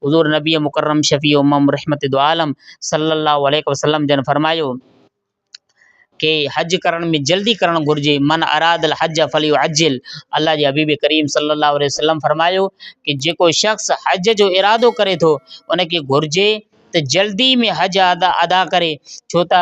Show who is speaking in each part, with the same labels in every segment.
Speaker 1: حضور نبي مڪرم شفيع امم رحمت دعالم صلّي اللّٰه عليه وسلّم جن فرمايو ڪي حج ڪرڻ ۾ جلدي ڪرڻ گهرجي من اراد الحج فليعجل الله جي حبيب ڪريم صلّي اللّٰه عليه وسلّم فرمايو ڪي جيڪو شخص حج جو ارادو ڪري ٿو ان کي گهرجي ته جلدي ۾ حج ادا ادا ڪري ڇو ته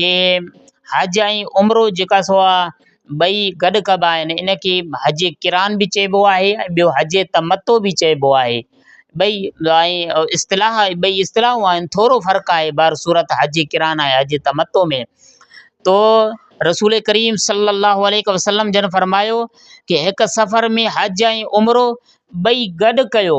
Speaker 1: کي حج ۽ عمرو جيڪا سو آ ٻئي گڏ ڪبا آهن ان کي حج قران به چئبو آهي ۽ ٻيو حج تمتع به چئبو آهي ٻئي ۽ اصطلاح ٻئي اصطلاحون آهن ٿورو فرق آهي بهر صورت حج قران ۽ حج تمتع ۾ تو رسول ڪريم صلّي الله عليه وسلّم جن فرمايو ڪي هڪ سفر ۾ حج ۽ عمرو ٻئي گڏ ڪيو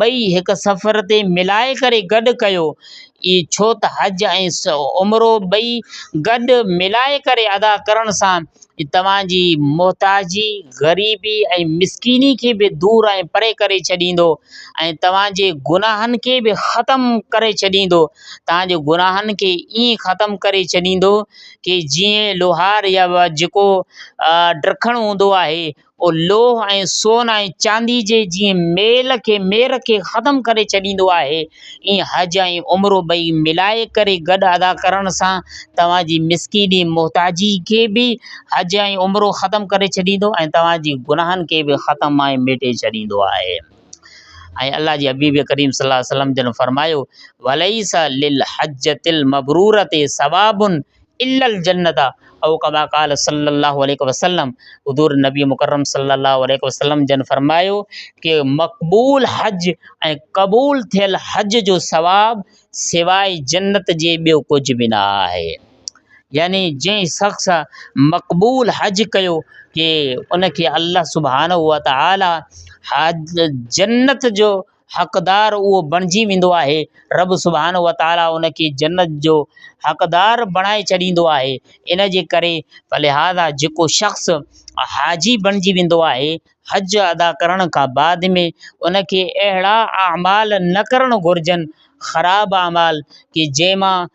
Speaker 1: ٻئي هڪ سفر تي ملائي ڪري گڏ ڪيو اي ڇو ته حج ۽ عمرو ٻئي گڏ ملائي ڪري ادا ڪرڻ سان توهان جي محتاجي غريبي ۽ مسڪيني کي به دور ۽ پري ڪري ڇڏيندو ۽ توهان جي گناهن کي به ختم ڪري ڇڏيندو توهان جي گناهن کي ائين ختم ڪري ڇڏيندو ڪي جيئن لوهار يا جيڪو ڊرکڻ هوندو آهي پوء لوهه ۽ سون ۽ چاندي جي جيئن ميل کي، مير کي، ختم ڪري ڇڏيندو آهي، ايئن حج ۽ عمرو ٻئي ملائي ڪري گڏ ادا ڪرڻ سان توهان جي مسڪيني، محتاجي، کي به حج ۽ عمرو ختم ڪري ڇڏيندو ۽ توهان جي گناهن کي به ختم ۽ ميٽي ڇڏيندو آهي. ۽ الله جي حبيب ڪريم صلي الله عليه وسلم جن فرمايو، وليس للحجة المبرورة ثواب الا الجنت او ڪما قال صلّي اللّٰه عليه وسلّم حضور نبي مڪرم صلّي اللّٰه عليه وسلّم جن فرمايو ڪي مقبول حج ۽ قبول ٿيل حج جو ثواب سواء جنت جي ٻيو ڪجھ به نه آهي يعني جنهن شخص مقبول حج ڪيو ڪي ان کي الله سبحانه وتعالٰي حج جنت جو حقدار اهو بڻجي ويندو آهي، رب سبحانه وتعاليٰ ان کي جنت جو حقدار بڻائي ڇڏيندو آهي، ان جي ڪري فلهذا جيڪو شخص حاجي بڻجي ويندو آهي، حج ادا ڪرڻ کان بعد ۾ ان کي اهڙا اعمال نه ڪرڻ گهرجن، خراب اعمال، ڪي جنهن مان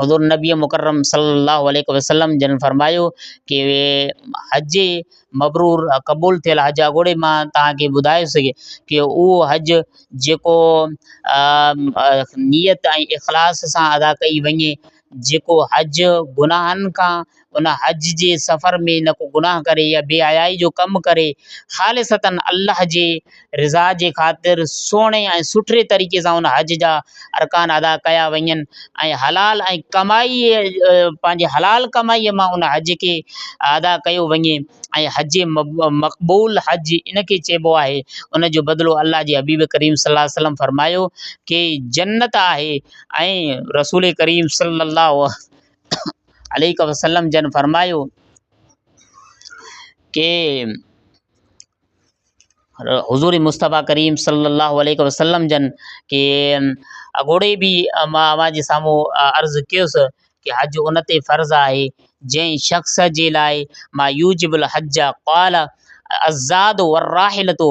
Speaker 1: حضور نبي مڪرم صلي الله عليه وسلم جن فرمايو ڪي حج مبرور قبول ٿيل حج جا ڳوڙهي مان توهان کي ٻڌائي سگهي ڪي اهو حج جيڪو نيت ۽ اخلاص سان ادا ڪئي وڃي جيڪو حج گناهن کان ان حج جي سفر ۾ نه ڪو گناهه ڪري يا بي حيائي جو ڪم ڪري خالصتاً الله جي رضا جي خاطر سهڻي ۽ سٺڙي طريقي سان ان حج جا ارڪان ادا ڪيا وڃن ۽ حلال ۽ ڪمائي پنهنجي حلال ڪمائيء مان ان حج کي ادا ڪيو وڃي ۽ حج مقبول حج ان کي چئبو آهي ان جو بدلو الله جي حبيب ڪريم صلّي الله عليه وسلّم فرمايو ڪي جنّت آهي ۽ رسول ڪريم صلّي الله عليه وسلم جن فرمايو ڪي حضور مصطفٰي ڪريم صلي الله عليه وسلم جن ڪي اڳوڻي بي امان اوهان جي سامهون عرض ڪيس ڪي حج ان تي فرض آهي جنهن شخص جي لاء ما يوجب الحج قال الزاد والراحلتو